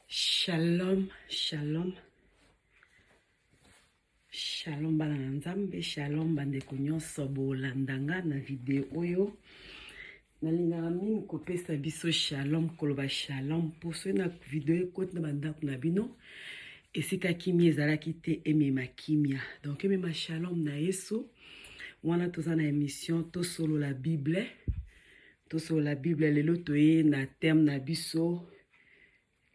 Shalom, shalom. Shalom bana na Nzambe, shalom bandeko nyonso bolanda nga na video oyo. nalingaka mingi kopesa biso shalom koloba shalom mpo soki na video ekoti na bandako na bino esika kimia ezalaki te emema kimia donc emema shalom na yesu wana toza na émission tosolola bible tosolola bible lelo toye na terme na biso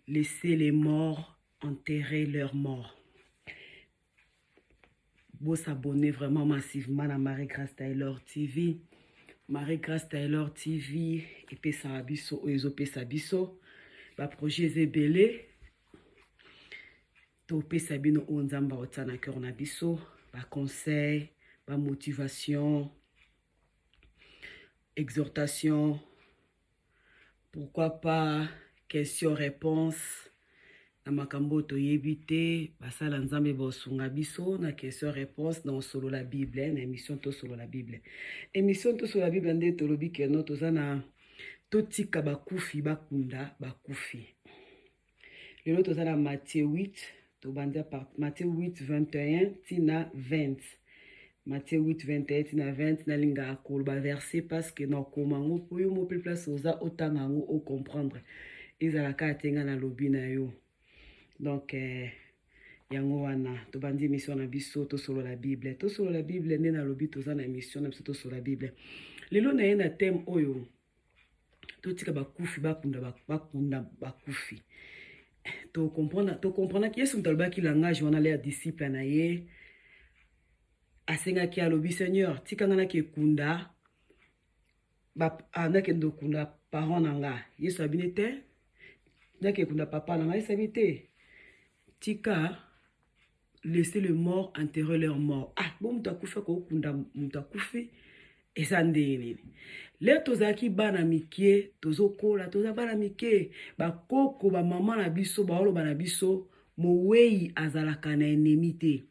laisser les morts enterrer leur mort Bo s'abonner vraiment massivement na Marie Grace Taylor TV. Marie Grace Taylor TV epesaka biso oyo ezopesa biso ba projets ebele topesa bino oyo nzambe aotia na cœur na biso ba conseils ba motivation exhortation Pourquoi pas question réponse na makambo oyo toyebi te basala nzambe bosunga biso na question réponse na osolola bible na émission tosolola bible émission tosolola bible nde tolobi keno toza na totika bakufi bakunda bakufi lelo toza na matie 8 tobandi matie 8 21 tina 20 matie 8 21 tina 20 nalingaka koloba verset parce que nakoma yango mpo yo mopli place oza otanga yango ocomprendre ezala kaka te ngai nalobi na yo donc eh, yango wana tobandi émission na biso tosolola bible tosolola bible nde nalobi toza na émission na biso tosolola bible lelo naye na thème oyo totika bakufi bakunda bakunda bakufi tokomprenaki yesu moto alobaki langage wana le ya disciple na ye asengaki alobi seigneur tika ngai nakekunda ah, nakende okunda parent na nga yesu abini te nakekunda papa na ngai esabi te tika laisser le mort enterrer leur mort ah bo moto akufi akokunda moto akufi eza ndenge nini leo tozalaki bana mike tozokola toza bana mike bakoko bamama na biso baoloba na biso mowei azalaka na enemi te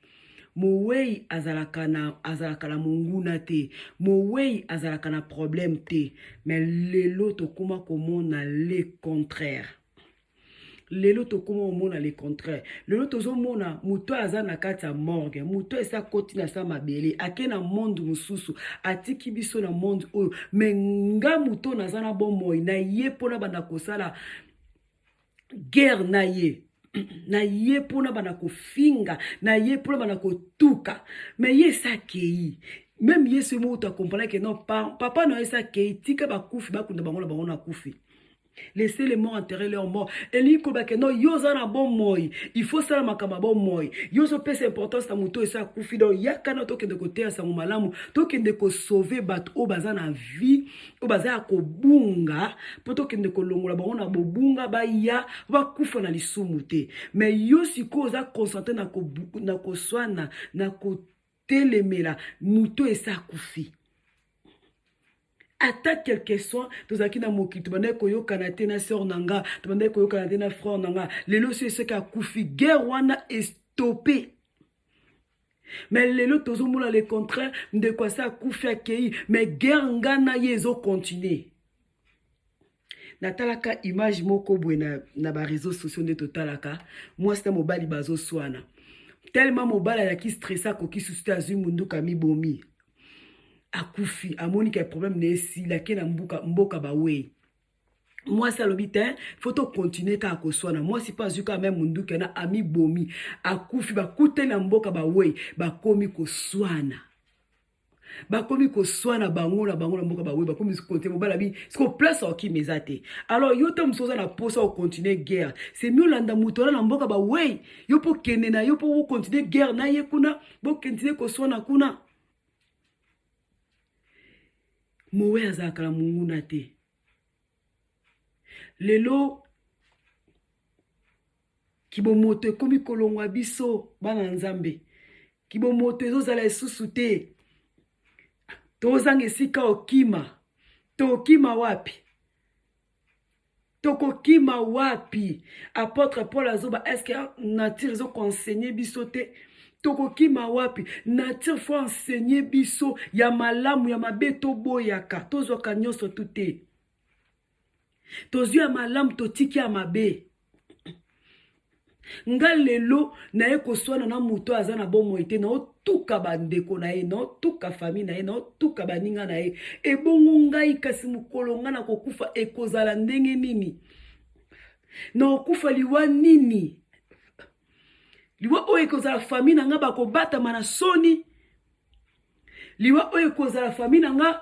mowei azalaka na azalaka na monguna te mowei azalaka na problème te mais lelo tokóma komona le contraire lelo tokoma omona le contraire lelo tozomona moto oyo aza na kati ya morgue moto oyo esi akoti na sa mabele ake na monde mosusu atiki biso na monde oyo me nga moto oyo naza na bomoi na ye mpona banda kosala guerre na ye na ye mpona banda kofinga na ye mpona banda kotuka me ye esi akei meme yesu ye moko to akompanake no papa na yo esi akei tika bakufi bakunda bango na bango na kufi laissez les morts enterrer leur mort elingi koloba ke no yo oza na bomoi il faut osala makambo ya bomoi yo ozopesa importance na moto oyo esi akufi donc yaka na tokende koteya sango malamu tokende kosauve bato oyo baza na vie oyo baza ya kobunga mpo tokende kolongola bango na bobunga baya bakufa na lisumu te mais yo sikoyo oza concentre na koswana na ko telemela moto oyo esi akufi ata quelque soit tozalaki na mokili tobandaki koyokana te na sœur na nga tobandaki koyokana te na frère na nga lelo soki soki akufi guerre wana estope mais lelo tozomona le contraire ndeko asi akufi akei mais guerre nga na ye ezokontinue natalaka image moko boye na, na bareseau sociaux nde totalaka mwasi na mobali bazoswana telema mobali ayaki stresse akoki susu te azwi munduka mibomi akufi amoni ke problème na esila ke na mboka, mboka bawei mwasi alobi te fo tokontinue kaka koswana mwasi mpe azwi kaka meme munduki wana amibomi akufi bakute na mboka bawei bakomi koswana bakomi koswana bango na bango na mboka bawe bakomi konte mobala bi siko place okimi eza te alors yo te mosusu oza na mposa ocontinue guerre semi olanda moto wana na mboka bawei yo mpo kende na yo mpo ocontinue guerre na ye kuna bokontinue koswana kuna mowe azalaka na monguna te lelo Kibomoto ekomi kolongwa biso bana ya Nzambe. Kibomoto ezozala lisusu te. Tozanga esika okima. Tokima wapi? Tokokima wapi? Apotre Paul azoba eske nature ezo conseiller biso te? tokokima wapi nature fo enseigner biso ya malamu ya mabe toboyaka tozwaka nyonso tu te tozwi ya malamu totiki ya mabe nga lelo naye koswana na moto oyo aza na bomoi te naotuka bandeko na ye naotuka fami na ye naotuka baninga na ye ebongo ngai kasi mokolo ngai nakokufa ekozala ndenge nini naokufa liwa nini liwa oyo ekozala fami na ngai bakobatama na soni liwa oyo ekozala fami na ngai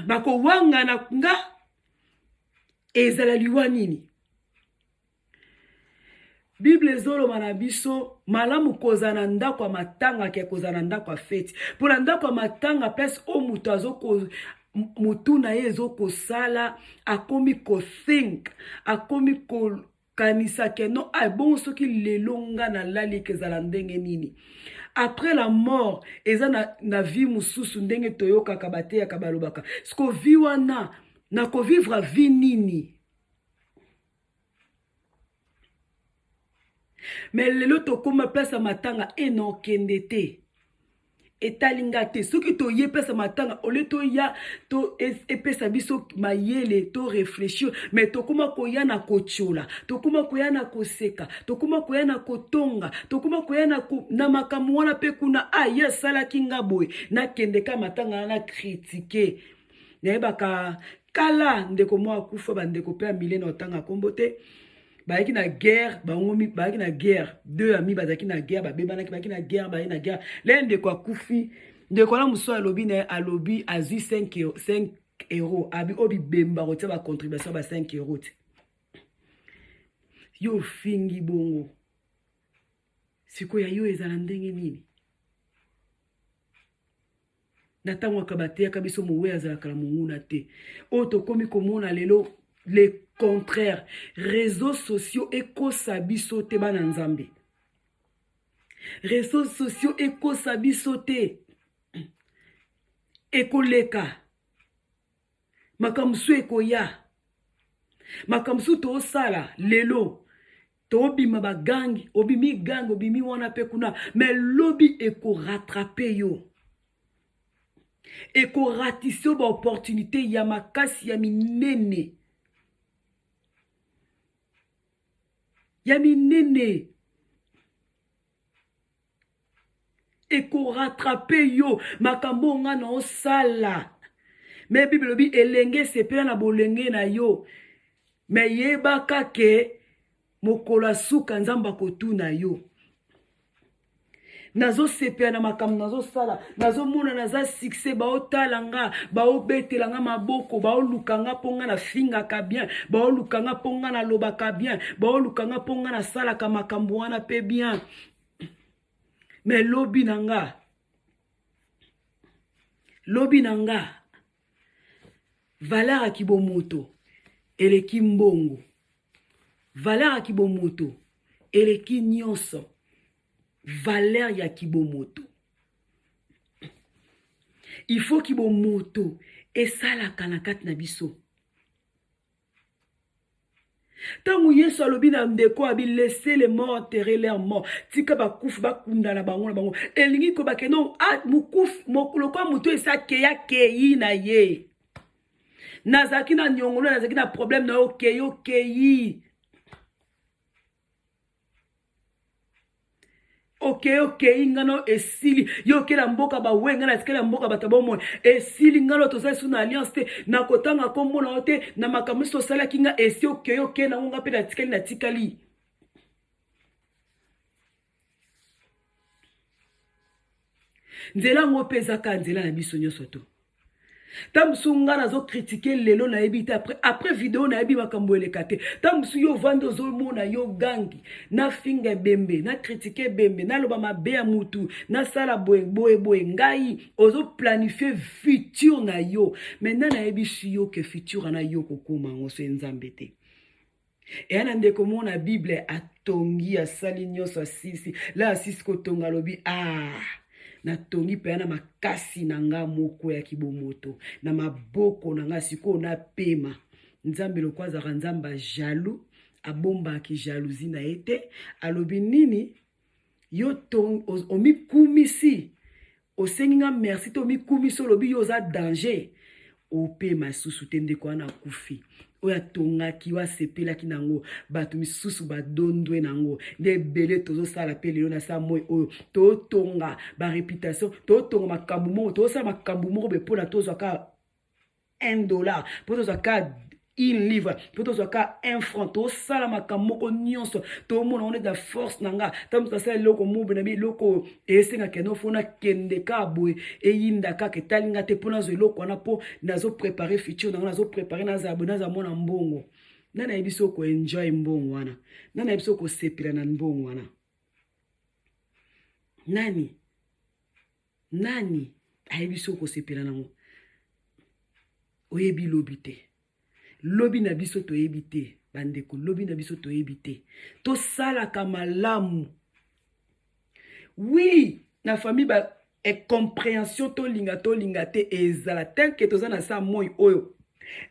bakowangana nga ezala liwa nini bible ezoloba na biso malamu kozala na ndako ya matanga ke kozala na ndako ya feti mpo na ndako ya matanga place oyo moto azoko motu na ye ezokosala akomi kothink akomi ko kanisa ke no a ah, ebongo soki lelo nga nalali ekezala ndenge nini après la mort eza na, na vie mosusu ndenge toyokaka bateyaka balobaka siko vie wana nakovivre vie nini me lelo tokoma place ya matanga enokende te etali nga te soki toye pesa matanga ole toya to epesa e biso mayele to réfléchir mais tokoma koya na kotyola tokoma koya na koseka tokoma koya na kotonga tokoma koya na, ko, na makambo wana mpe kuna aye ah, asalaki nga boye nakende ka matanga wana kritike nayebaka kala ndeko moko akufa bandeko mpe amile na otanga nkombo te bayaki na guerre bango bayaki na guerre deux ami bazalaki na guerre babebanaki bayaki na guerre bayaki na guerre le ndeko akufi ndeko wana mosusu alobi na ye alobi azwi 5 euro abi oyo bibemba kotia bacontribution ba 5 euro te yo ofingi bongo sikoyo ya yo ezala ndenge nini na ntango aka bateyaka biso mowei azalaka na monguna te oyo tokomi komona lelo le contraire réseaux sociaux ekosa biso te bana nzambe réseaux sociaux ekosa biso te ekoleka makambo mosusu ekoya makambo mosusu tosala lelo tobima bagangi obimi gangi obimi wana mpe kuna me lobi ekoratrape yo ekoratise yo baopportunité ya makasi ya minene ya minene ekoratrape yo makambo oyo ngai naosala me bible elobi elenge esepela na bolenge na yo me yebaka ke mokolo ya suka nzambe akotuna yo nazosepela na makambo nazosala nazomona naza succès baotala nga baobetela nga maboko baoluka nga mpo nga nafingaka bien baoluka nga mpo nga nalobaka bien baoluka nga mpo nga nasalaka makambo wana mpe bien mais lobi na nga lobi na nga valeur ya kibomoto eleki mbongo valeur ya kibomoto eleki nyonso valeur ya kibomoto il faut kibomoto esalaka na kati na biso ntango yesu alobi na ndeko abi laisse le mort terre leur mort tika bakufi bakundana bango na bango elingi koyeba ke non ah, lokola moto esi akei akei na ye nazalaki na nyongono nazalaki na probleme na yo okei okei okei okei ngano esili yo okela mboka bawe ngai natikali ya mboka bato bomoi esili ngano toza lisusu na alliance te nakotanga nkombo na yo te na makambo nyonso osalaki ngai esi okei okei nango ngai mpe natikali natikali nzela yango mpe eza kaka nzela na biso nyonso to ntango mosusu ngai nazokritike lelo nayebi te apres apres video nayebi makambo eleka te ntango mosusu yo ovandi ozomona yo gangi nafinga ebembe nakritike ebembe naloba mabe ya motu nasala boye boye boye ngai ozoplanifie future na yo maintenant nayebisi yo ke future wana yo kokoma yango so ye nzambe te eya na ndeko moko na bible atongi asali nyonso asilisi la asilisi kotonga alobi ah natongi mpenza na makasi na nga moko ya kibomoto na maboko na nga sikoyo napema nzambe lokola azalaka nzambe ya jaloux abombaki jalousie na ye te alobi nini yo omikumisi osengi nga merci to omikumisi olobi yo oza danger opema lisusu te ndeko wana akufi oyo atongaki oyo asepelaki na yango bato misusu badondwe na yango nde ebele tozosala mpe lelo na saa moi oyo totonga bareputation totonga makambo moko tozosala makambo moko boye mpona tozwa kaka 1 dollar mpo tozwa ka une livre mpo tozwaka un franc tosala makambo moko nyonso tomona ngo neti na force na nga ntango moto asala eloko mobe na bi eloko oyo esengaka no mpo nakende kaka boye eyinda kaka etali nga te mpo nazwa eloko wana mpo nazoprepare future na nga nazoprepare nazala boye nazala mwana mbongo ngai nayebi so koenjoy mbongo wana ngai nayebi so kosepela na mbongo wana nani Nani ayebi soki okosepela nango? Oyebi lobi te. Lobi na biso toyebi te bandeko, lobi na biso toyebi te. Tosalaka malamu. Oui, na famille ba incomprehension tolinga tolinga te ezala tanke toza na saa moi oyo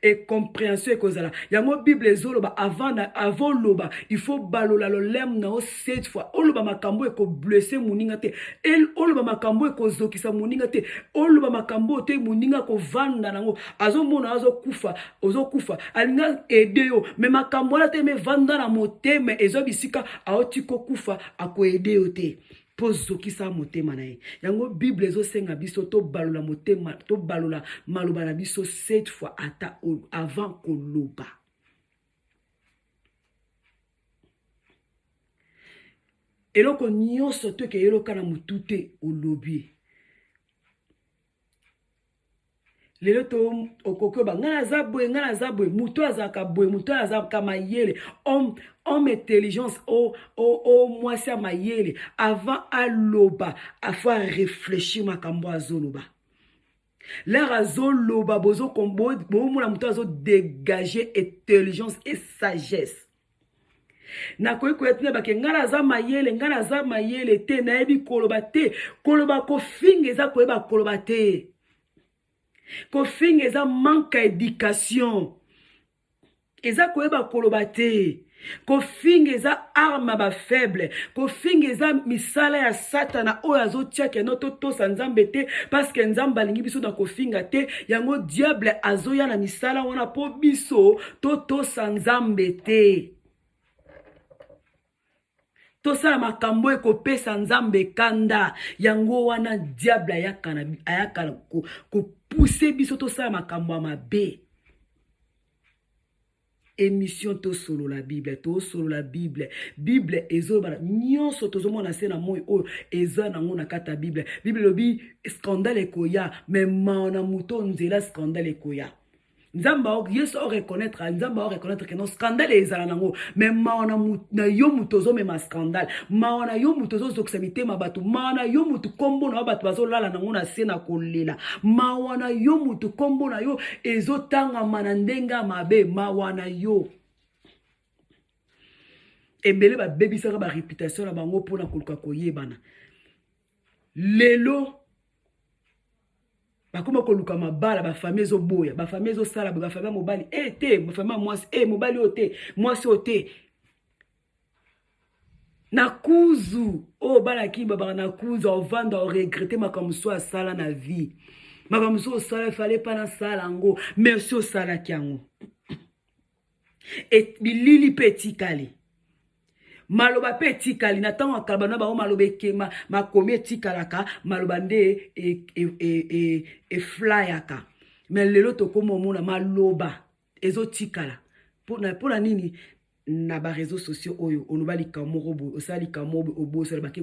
et compréhension ekozala yango bible ezoloba avant na avant loba il faut balola lolem na yo cette fois oloba makambo ekoblesse moninga te el oloba makambo ekozokisa moninga te oloba makambo oyo te moninga akovanda nango azomona azokufa ozokufa alinga ede yo me makambo wana te me vanda na motema ezwa bisika aoti kokufa akoede yo te mpo zokisa motema na ye yango bible ezosenga biso tobalola motema tobalola maloba na biso cette fois ata avant koloba eloko nyonso toke eloka na motu te olobi lelo to okoki oba ngai naza boye ngai naza boye moto azalaka boye moto oyo azalaka mayele homme homme intelligence o oh, o oh, o oh, mwasi ya mayele avant aloba afo areflechir makambo azoloba lere azoloba bozomona moto azodegage intelligence et sagesse nakoki koya tuna bake ngai naza mayele ngai naza mayele te nayebi koloba te koloba kofinga eza koyeba koloba te kofinga eza manque ya education eza koyeba koloba te kofinga eza arme ba faible kofinga eza misala ya satana oyo azotia keno totosa nzambe te parceke nzambe alingi biso na kofinga te yango diable azoya na misala wana mpo biso totosa nzambe te tosala makambo oyo ekopesa nzambe kanda yango wana diable ayaka ayaka kopuse biso tosala makambo ya mabe émission tosolola bible tosolola bible bible ezolobana nyonso tozomona se na moi oyo eza nango na kati ya bible bible elobi scandale ekoya me mao na moto nzela scandale ekoya nzambe yesu o reconnaître nzambe o reconnaître que non scandale ezala nango mais mawa na yo moto ozomema scandale mawa na yo moto ozozokisa mitema bato mawa na yo moto nkombo na yo bato bazolala nango na se na kolela mawa na yo moto nkombo na yo ezotangama na ndenge ya mabe mawa na yo ebele babebisaka bareputation na bango mpona koluka koyebana lelo bakoma koluka mabala bafamille ezoboya bafamille ezosala boye bafamille ya mobali e eh, te bafamille ya mwasi e mobali oyo te mwasi oyo te na kuzu oyo oh, bana kimi babaka na kuzu ovanda oregrete makambo mosusu asala na vie makambo mosusu osala efale mpa nasala yango merci osalaki yango Et bilili pe etikali. Maloba pe etikali na tango akaba na bango maloba ekema makomi etikalaka maloba nde e, e, e, e, e flyaka. Mais lelo tokoma omona maloba ezotikala. Pona pona nini na ba réseaux sociaux oyo oloba likambo moko boye osala likambo oboyi osala bake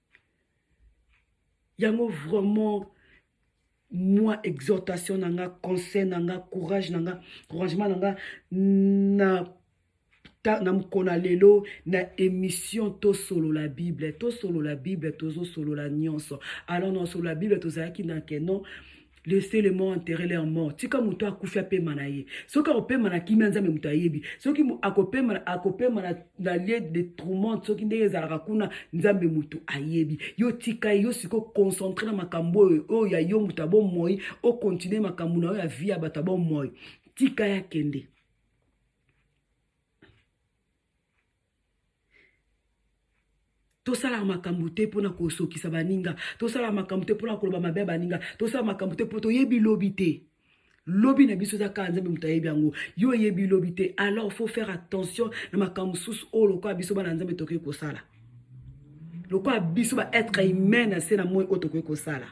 yango vraiment mwa exhortation na nga conseil na nga courage na nga couragement na nga na na mokolo na lelo na émission tosolola bible tosolola bible tozosolola nyonso alors na osolola bible tozalaki na keno laissez les morts enterrer leur mort tika moto akufi apema na ye soki akopema na kimia nzambe moto ayebi soki akopema akopema na, na lie de tourment soki ndenge ezalaka kuna nzambe moto ayebi yo tika ye yo siko concentre na makambo oyo oyo ya yo moto ya bomoi okontinue makambo na yo ya vie ya bato ya bomoi tika ye akende tosalaka makambo te mpo na kosokisa baninga tosalaka makambo te mpo na koloba mabe ya baninga tosalaka makambo te mpo toyebi lobi te lobi na biso eza kaka nzambe moto ayebi yango yo oyebi lobi te alors faut faire attention na makambo mosusu oyo lokola biso bana nzambe tokoki kosala lokola biso baetre humain na se na moi oyo tokoki kosala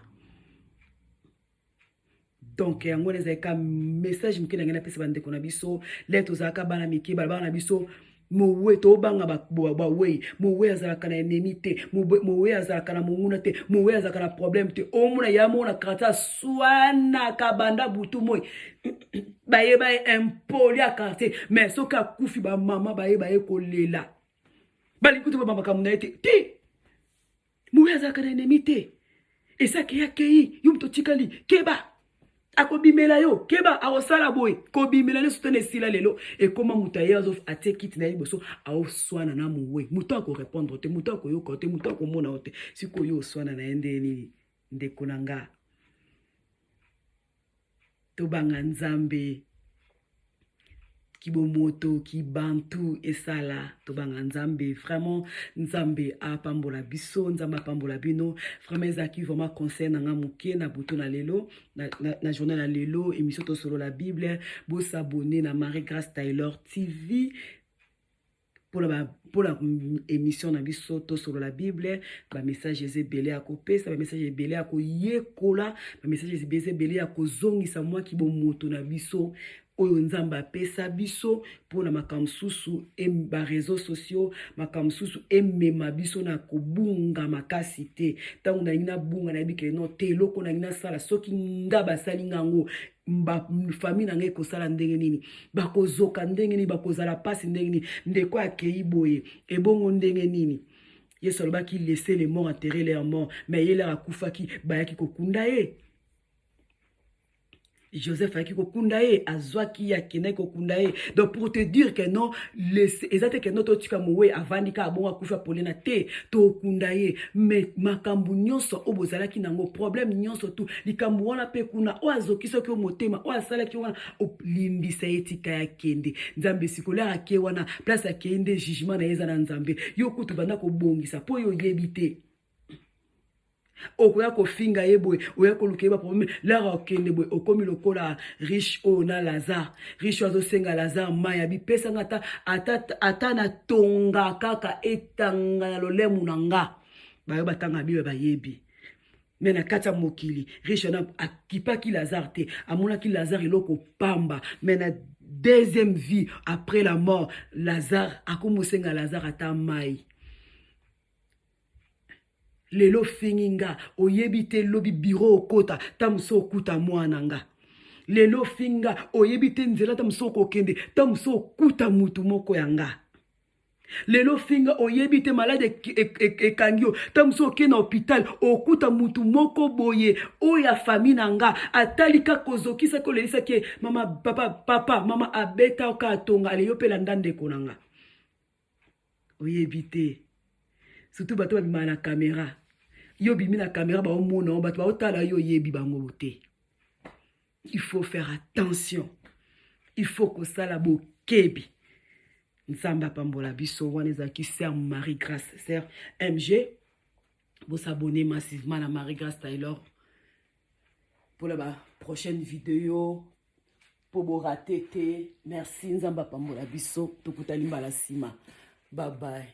donc yango wana ezalaka message moke nangai napesa bandeko na biso le tozalaka bana mike balabana na biso mowe tobanga bawei mowe azalaka na enemi te mowe azalaka na monguna te mowe azalaka na problème te omona ya mona karate aswanaka banda butu moi baye baye impoli ya karate mais soki akufi bamama baye baye kolela balingi kutu bamakambo na ye te ti Moyi azalaka na ennemi te. Esake ya kei, yo moto otikali, keba. akobimela yo keba akosala boye kobimela nde sutana esila lelo ekoma moto aye azo atie kiti na ye liboso aoswana na mowe moto akorepondre te moto akoyoka yo te moto akomona yo te sikoyo oswana na ye nde nini ndeko na nga tobanga nzambe kibomoto kibantu esala tobanga nzambe vraiment nzambe apambola biso nzambe apambola bino vraiment ezalaki vraiment conseil na nga moke na butu na lelo na, na, na journée na lelo émission tosolola bible bosabone na marie grace taylor tv mpona ba mpona émission na biso tosolola bible bamessage eza ebele ya kopesa bamessage ebele ya koyekola bamessage eza ebele ya kozongisa mwa kibomoto na biso oyo nzambe apesa biso mpo na makambo mosusu bareseau sociaux makambo mosusu emema biso na kobunga makasi te ntango nalingi nabunga nayebi ke no te eloko nalingi nasala soki nga basali nga yango ba famille na ngai ekosala ndenge nini bakozoka ndenge nini bakozala mpasi ndenge nini ndeko akei boye ebongo ndenge nini yesu alobaki laisse le mort enterre leur mort mais ye lere akufaki bayaki kokunda ye joseph ayaki kokunda ye azwaki ye akendaki kokunda ye donc pour te dire que non eza te ke no totika mowe avandi kaka bongo akufi apolena te tokunda ye mais makambo nyonso oyo bozalaki nango problème nyonso tout likambo wana mpe kuna oyo azokisaki yo motema oyo asalaki yo wana olimbisa ye tika ya kende nzambe esikoli ake wana place akei nde jugement na ye eza na nzambe yo kutu banda kobongisa mpo yo oyebi te okoya kofinga ye boye oya koluka ye baprobleme lara okende boye okomi lokola riche oyo na lazare riche oyo azosenga lazare mai ya bipesanga ata, ata, ata natonga kaka etanga na lolemu na nga bayo batanga bible bayebi me na kati ya mokili riche na akipaki lazare te amonaki lazare eloko pamba me na deuxième vie après la mort lazare akomosenga lazare ata mai lelo ofingi nga oyebi te lobi biro okota ta mosu okuta mwana nga lelo ofingi nga oyebi te nzela ta mosu okokende ta mosu okuta motu moko ya nga lelo finga oyebi te maladi ekangi yo ntango mosusu okei na hôpital okuta motu moko boye oyo ya fami na nga atali kaka kozokisa kolelisaki ye mama papa, papa mama abeta oka atonga aleyo mpe landa ndeko na nga oyebi te surtout bato babimaka na kamera yo obimi na kamera baomona yo bato baotala yo oyebi bango te il faut faire attention il faut kosala bokebi nzambe apambola biso wana ezalaki ser marie grace ser mg bosabone massivement na marie grace taylor mpona baprochaine video mpo borate te merci nzambe apambola biso tokutani mbala nsima babaye